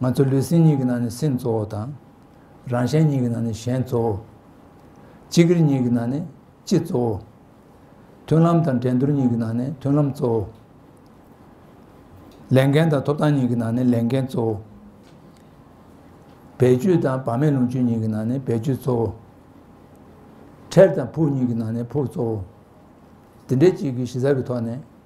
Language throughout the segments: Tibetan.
ང་ཚོ་ལུས་སེམས་གཉིས་ཀྱི་ནང་ནས་སེམས་གཙོ་བོ་དང། རང་གཞན་གཉིས་ཀྱི་ནང་ནས་གཞན་གཙོ་བོ། སྤྱི་སྒེར་གཉིས་ཀྱི་ནང་ནས་སྤྱི་གཙོ་བོ། མཐུན་ལམ་དང་འགྲན་བསྡུར་གཉིས་ཀྱི་ནང་ནས་མཐུན་ལམ་གཙོ་བོ། ལས་འགན་དང་ཐོབ་ཐང་གཉིས་ཀྱི་ནང་ནས་ལས་འགན་གཙོ་བོ། བེད་སྤྱོད་དང་བག་མེད་ལོངས་སྤྱོད་གཉིས་ཀྱི་ནང་ནས་བེད་སྤྱོད་གཙོ་བོ། ཁྲེལ་དང་ཕུགས་གཉིས་ཀྱི་ནང་ནས་ཕུགས་གཙོ་བོ། འདི་འདྲའི་གཅིག་གི་གཞི་རྩ་གི་ཐོག་ནས།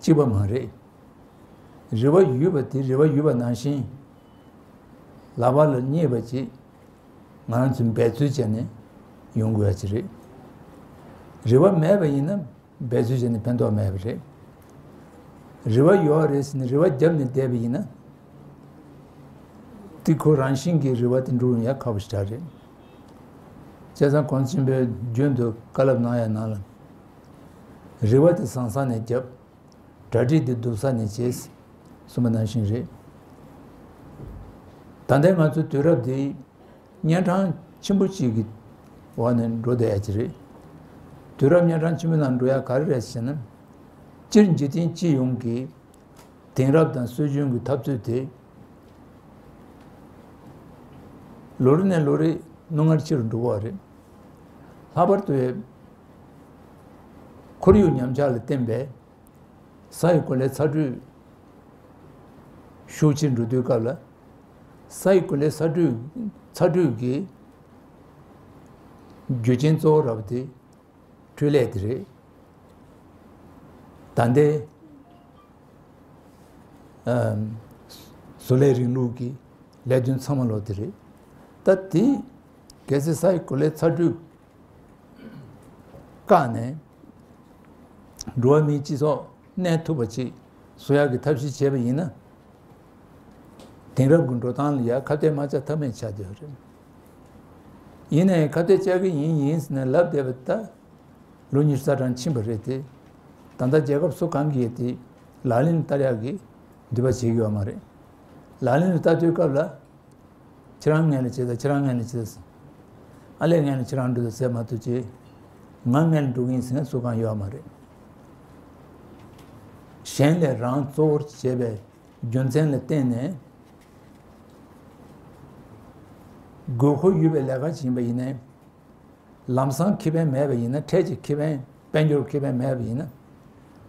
གཅིག་པ་མ་རེད། རེ་བ་ཡོད་པ་དེ་རེ་བ་ཡོད་པ་ནང་བཞིན་ལག་པ་ལ་བརྙེས་པ་ཅིག་ང་རང་ཚོས་འབད་རྩོལ་བྱས་ནས་ཡོང་དགོས་ཀྱི་རེད། རེ་བ་མེད་པ་ཡིན་ན་འབད་རྩོལ་བྱས་ནས་ཕན་ཐོགས་མེད་པ་རེད། རེ་བ་ཡོད་རེད་ཟེར་ནས་རེ་བ་བརྒྱབ་ནས་བསྡད་པ་ཡིན་ན་དེ་ཁོ་རང་བཞིན་གྱིས་རེ་བ་དེ་འགྲུབ་ཡང་ཁག་པོ་ཞིག་གྲགས་རེད། བཅས་ཚང་ཁོང་ཆེན་པོས་རྒྱུན་དུ་བཀའ་སློབ་གནང་ཡ་གནང་ལ། རེ་བ་དེ་ཟང་ཟང་ནས་བརྒྱབ། གྲ་སྒྲིག་དེ་སྡུག་ས་ནས་བྱས། སུ་མ་ནང་ཞིང་རེད། ད་ལྟའི་ང་ཚོའི་དུས་རབས་འདི། གཉན་འཕྲང་ཆེན་པོ་གཅིག་གི་འོག་ནས་འགྲོ་བསྡད་ཡ་གྱི་རེད། དུས་རབས་གཉན་འཕྲང་ཆེན་པོའི་ནང་འགྲོ་ཡ་ག་རེ་རེད་ཟེར་ན། སྤྱིར་འཇིག་རྟེན་སྤྱི་ཡོངས་ཀྱི། དེང་རབས་དང་སྲོལ་རྒྱུན་གྱི་འཐབ་རྩོད་དེ། ལོ་རེ་ནས་ལོ་རེ་རྣོ་ངར་ཆེ་རུ་འགྲོ་བ་རེད། ལྷག་པར་དུ། ཁོར་ཡུག་ཉམས་ཆག་ལ་བརྟེན་པའི་ས་ཡི་གོ་ལའི་ཚ་དྲོད་ཤུགས་ཆེར་འགྲོ་དུས་སྐབས་ལ། ས་ཡི་གོ་ལའི་ཚ་དྲོད་ཚ་དྲོད་ཀྱི་རྒྱུ་རྐྱེན་གཙོ་བོ་ར་བ་དེ་འཕྲུལ་ལས་དེ་རེད། ད་ལྟའི་བཟོ་ལས་རིང་ལུགས་ཀྱི་ལས་དོན་ཚང་མ་ལོག་དེ་རེད། ད་དེ་རྒྱལ་སྲིད་སའི་གོ་ལའི་ཚ་དྲོད་བཀག་ནས། འགྲོ་བ་མིའི་སྤྱི་ཚོགས་གནས་ཐུབ་པ་ཆེད་བཟོ་ཡག་གི་ཐབས་ཤེས་བྱས་པ་ཡིན་ན། དེང་རབས་ཀྱི་འགྲོ་སྟངས་ལ་ཡང་ཁ་གཏད་མ་བཅག་ཐབས་མེད་ཆགས་བསྡད་པ་རེད། ཡིན་ན་ཡང་ཁ་གཏད་བཅག་གི་ཡིན་ཡིན་ཟེར་ནས་ལབ་བསྡད་པ་ད་ལོ་ཉི་ཤུ་རྩ་གྲངས་ཕྱིན་པ་རེད་དེ། ད་ལྟ་རྒྱལ་ཁབ་སོ་གང་གིས་དེ་ལག་ལེན་བསྟར་ཡག་གི་འདུས་པ་བྱེད་དགོས་པ་མ་རེད། ལག་ལེན་རུ་བསྟར་དུས་སྐབས་ལ་ཁྱེད་རང་ངན་ལས་བྱེད་ད་ཁྱེད་རང་ངན་ལས་བྱེད་ད། ཨ་ལས་ངན་ལས་ཁྱེད་རང་འགྲོ་ད་ཟེར་མ་ཐུབ་ཀྱི། ང་ངན་ལས་འགྲོ་གི་ཡིན་ཟེར་མཁན་སུ་གང་ཡོད་ཨ་མ་རེད། གཞན་ལས་རང་གཙོ་བོར་བྱས་པའི་རྒྱུ་མཚན་ལ་བརྟེན་ནས། དགོས་མཁོ་ཡོད་པའི་ལས་ཀ་ཞིག་ཡིན་པ་ཡིན་ནས། ལམ་སང་ཁེ་ཕན་མེད་པ་ཡིན་ན་འཕྲལ་གྱི་ཁེ་ཕན་དཔལ་འབྱོར་ཁེ་ཕན་མེད་པ་ཡིན་ན།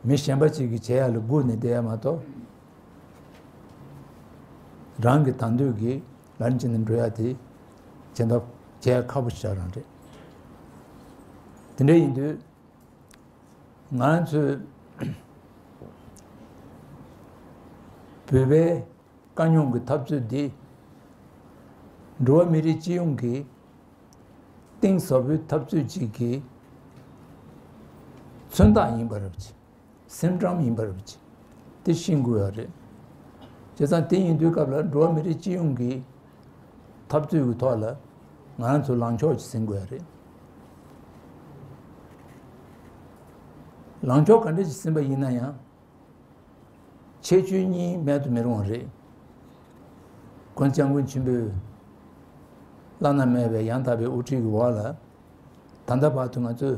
མི་གཞན་པ་ཅིག་གིས་བྱེད་ཡག་ལ་སྒུག་ནས་བསྡད་ཡ་མ་གཏོགས། རང་གི་དང་འདོད་ཀྱིས་ལར་འཇིག་ནས་འགྲོ་ཡ་དེ་བྱེད་འདོད་བྱེད་ཁ་པོ་བྱ་རང་རེད་དེ་འདྲ་ཡིན་དུས་ང་ཚོས་བོད་པའི་དཀའ་རྙོག་གི་འཐབ་རྩོད་འདི་འགྲོ་བ་མི་རིགས་སྤྱི་ཡོངས་ཀྱི་གཏིང་ཟབ་པོའི་འཐབ་རྩོད་ཅིག་གི་མཚོན་རྟགས་ཡིན་པར་སེམས་ཁྲམ་ཡིན་པར་བྱས་ཏེ་ཤི་འགོས་པ་རེད། བྱས་ཙང་དེ་ཡིན་དུས་སྐབས་ལ་འགྲོ་བ་མི་རིགས་སྤྱི་ཡོངས་ཀྱི་འཐབ་རྩོད་ཀྱི་ཐོག་ལ་ང་རང་ཚོ་ལངས་ཕྱོགས་ཟིན་དགོས་པ་རེད། ལངས་ཕྱོགས་ག་འདྲ་ཞིག་ཟིན་པ་ཡིན་ན་ཡང་ཆེས་ཆོས་གཉིས་མེད་དུ་མི་རུང་བ་རེད། མགོན་སྐྱབས་མགོན་ཆེན་པོས་བླ་ན་མེད་པའི་ཡང་དག་པའི་དབུ་ཁྲིད་ཀྱི་འོག་ལ་ད་ལྟ་བར་དུ་ང་ཚོས་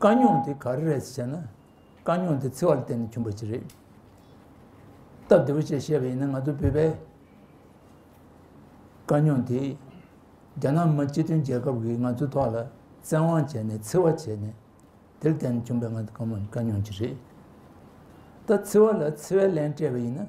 དཀའ་རྙོག་དེ་ག་རེ་རེད་ཅེས་བྱས་ན་དཀའ་རྙོག་དེ་འཚེ་བ་ལ་བརྟེན་ནས་བྱུང་བ་ཞིག་རེད། སྟབས་བདེ་བོ་ཞིག་བཤད་པ་ཡིན་ན་ང་ཚོ་བོད་པའི་དཀའ་རྙོག་དེ་རྒྱ་ནག་མི་སྤྱི་མཐུན་རྒྱལ་ཁབ་ཀྱིས་ང་ཚོའི་ཐོག་ལ་བཙན་དབང་བྱས་ནས་འཚེ་བ་བྱས་ནས་དེར་བརྟེན་ནས་བྱུང་བའི་དཀའ་རྙོག་ཅིག་རེད། ད་འཚེ་བ་ལ་འཚེ་བའི་ལན་སྤྲད་པ་ཡིན་ན་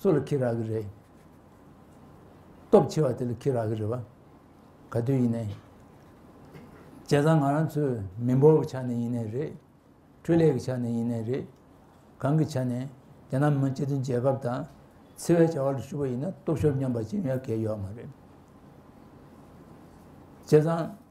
སུ་ལ་ཁྱི་རག་གི་རེད། སྟོབས་ཆེ་བ་དེ་ལ་ཁྱི་རག་གི་རེད་བ། ག་དུས་ཡིན་ནའི། བྱས་ཙང་ང་རང་ཚོའི་མི་འབོར་བའི་ཆ་ནས་ཡིན་ནའི་རེད། འཕྲུལ་ལས་ཀྱི་ཆ་ནས་ཡིན་ནའི་རེད། གང་གི་ཆ་ནས་རྒྱ་ནག་མི་དམངས་སྤྱི་མཐུན་རྒྱལ་ཁབ་དང། འཚེ་བའི་བྱ་བ་ལ་ཞུགས་པ་ཡིན་ན་སྟོབས་ཤོར་སྙམ་པ་ཅི་ཡང་ཡོད་མ་རེད། བྱས་ཙང།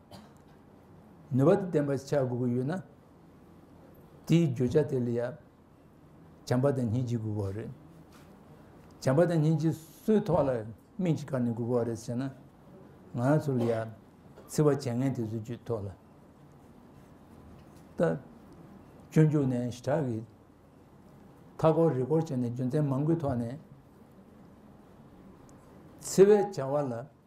ནུས་པ་དང་ལྡན་པར་བྱ་དགོས་ཀྱི་ཡོད་ན། དེའི་བརྗོད་བྱ་དེ་ལ་ཡང་བྱམས་པ་དང་སྙིང་རྗེ་དགོས་པ་རེད། བྱམས་པ་དང་སྙིང་རྗེ་སུའི་ཐོག་ལ་དམིགས་ཀྱིས་བཀར་ནས་དགོས་པ་རེད་ཟེར་ན། ང་རང་ཚོ་ལ་ཡང་འཚེ་བ་བྱེད་མཁན་དེ་ཚོ་ཀྱི་ཐོག་ལ་ད་སྤྱོད་འཇུག་ནས་ཞི་དྲག་གི་མཐའ་སྐོར་རི་སྐོར་བྱས་ནས་རྒྱུ་མཚན་མང་པོའི་ཐོག་ནས་འཚེ་བའི་བྱ་བ་ལ་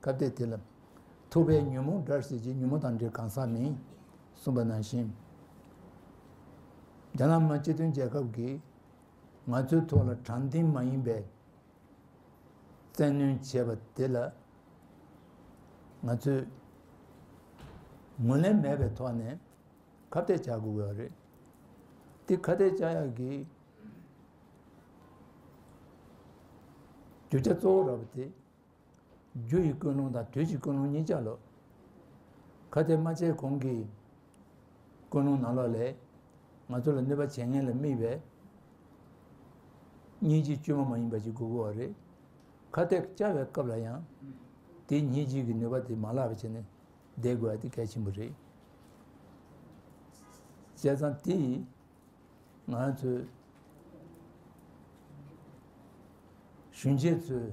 སྐབས་དེ་དེ་ལ། ཐུབ་པའི་ཉོན་མོངས་དགྲར་སྲིད་ཅེས་ཉོན་མོངས་དང་དགྲའི་གང་ཟག་མིན། གསུངས་པ་ནང་བཞིན། རྒྱ་ནག་དམར་སྤྱི་དོན་རྒྱལ་ཁབ་ཀྱིས། ང་ཚོའི་ཐོག་ལ་དྲང་བདེན་མ་ཡིན་པའི། བཙན་གནོན་བྱས་པ་དེ་ལ། ང་ཚོས། ངོས་ལེན་མེད་པའི་ཐོག་ནས། ཁ་གཏད་བཅག་དགོས་པ་རེད། དེ་ཁ་གཏད་བཅག་ཡག་གི། རྒྱུ་ཆ་གཙོ་བོ་རག་པ་དེ། རྒྱུ་ཡི་ཀུན་སློང་དང་དུས་ཀྱི་ཀུན་སློང་གཉིས་ཆ་ལོ། གལ་ཏེ་རྨ་བྱའི་གོང་གི་ཀུན་སློང་ནང་ལོགས་ལས་ང་ཚོ་ལ་གནོད་པ་བྱེད་ངེས་ལ་དམིགས་པས་གཉིས་ཀྱི་དཀྱུས་མ་མ་ཡིན་པ་གཅིག་དགོས་དགོས་པ་རེད། ཁ་གཏད་བཅའ་བའི་སྐབས་ལ་ཡང་དེ་གཉིས་གཅིག་གི་ནུས་པ་དེ་མ་བརླག་པ་བྱས་ནས་བསྡད་དགོས་པ་དེ་གལ་ཆེན་པོ་རེད། བྱས་ཙང་དེ་ཡིས་ང་ཚོས་གཞོན་སྐྱེས་ཚོས་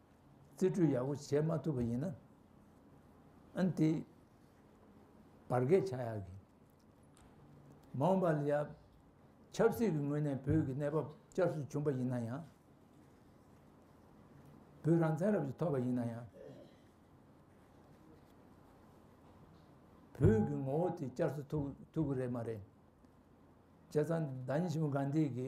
རྩིས་སྤྲོད་ཡག་པོ་བྱེད་མ་ཐུབ་པ་ཡིན་ན་ཨན་དེ་བར་བརྒལ་བྱ་ཡག་གི་མ་འོངས་པ་ལ་ཡ་ཆབ་སྲིད་ཀྱི་ངོས་ནས་བོད་ཀྱི་གནས་བབ་བསྐྱར་གསོ་བྱུང་པ་ཡིན་ན་ཡང་བོད་རང་བཙན་རབ་ཏུ་ཐོབ་པ་ཡིན་ན་ཡང་བོད་ཀྱི་ངོ་བོ་དེ་བསྐྱར་གསོ་ཐུབ་ཐུབ་ཀྱི་རེད་མ་རེད་བྱས་ཙང་ཟླ་ཉི་ཤུ་པོ་གང་དེ་གི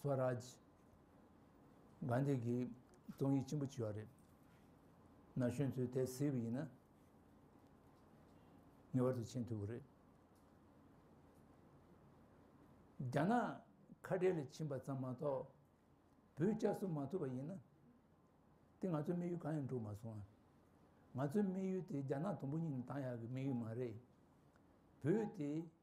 Swaraj། Gandhi། གི་རྩོམ་ཡིག་ཆེན་པོ་བྲིས་བ་རེད། ན་གཞོན་ཚོས་དེ་གཟིགས་པ་ཡིན་ན། ངེས་པར་དུ་མཁྱེན་ཐུབ་པ་རེད། རྒྱ་ནག་ཁ་བྲལ་ལས་ཕྱིན་པ་ཙམ་མ་གཏོགས་བོད་བསྐྱར་གསོ་མ་ཐུབ་པ་ཡིན་ན། དེ་ང་ཚོའི་དམིགས་ཡུལ་གང་ཡང་འགྲུབ་མ་སོང། ང་ཚོའི་དམིགས་ཡུལ་དེ་རྒྱ་ནག་དུམ་བུ་གཉིས་ནས་བཏང་ཡག་གི་དམིགས་ཡུལ་མ་རེད། བོད་དེ།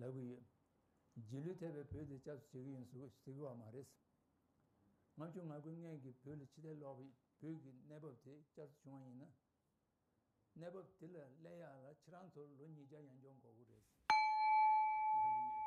ལབ་གི་ཡོད། རྗེས་ལུས་ཐེབས་པའི་བུ་དེ་སྐྱབས་སུ་བྱེད་ཀྱི་ཡིན་ཟེར་གི་བ་མ་རེད། ལྔ་བཅུ་ང་དགུའི་སྔས་ཀྱི་བོད་ལ་ཕྱི་ཐལ་ལོག་པའི་བོད་ཀྱི་གནས་བབ་དེ་བསྐྱར་དུ་བྱུང་བ་ཡིན་ན། གནས་བབ་དེ་ལ་གླེང་ཡག་ལ་ཁྱེད་རང་ཚོར་ལོ་ཉིས་བརྒྱ་ཡང་འཇོག་འགོག་གི་རེད། ལབ་གི་ཡོད།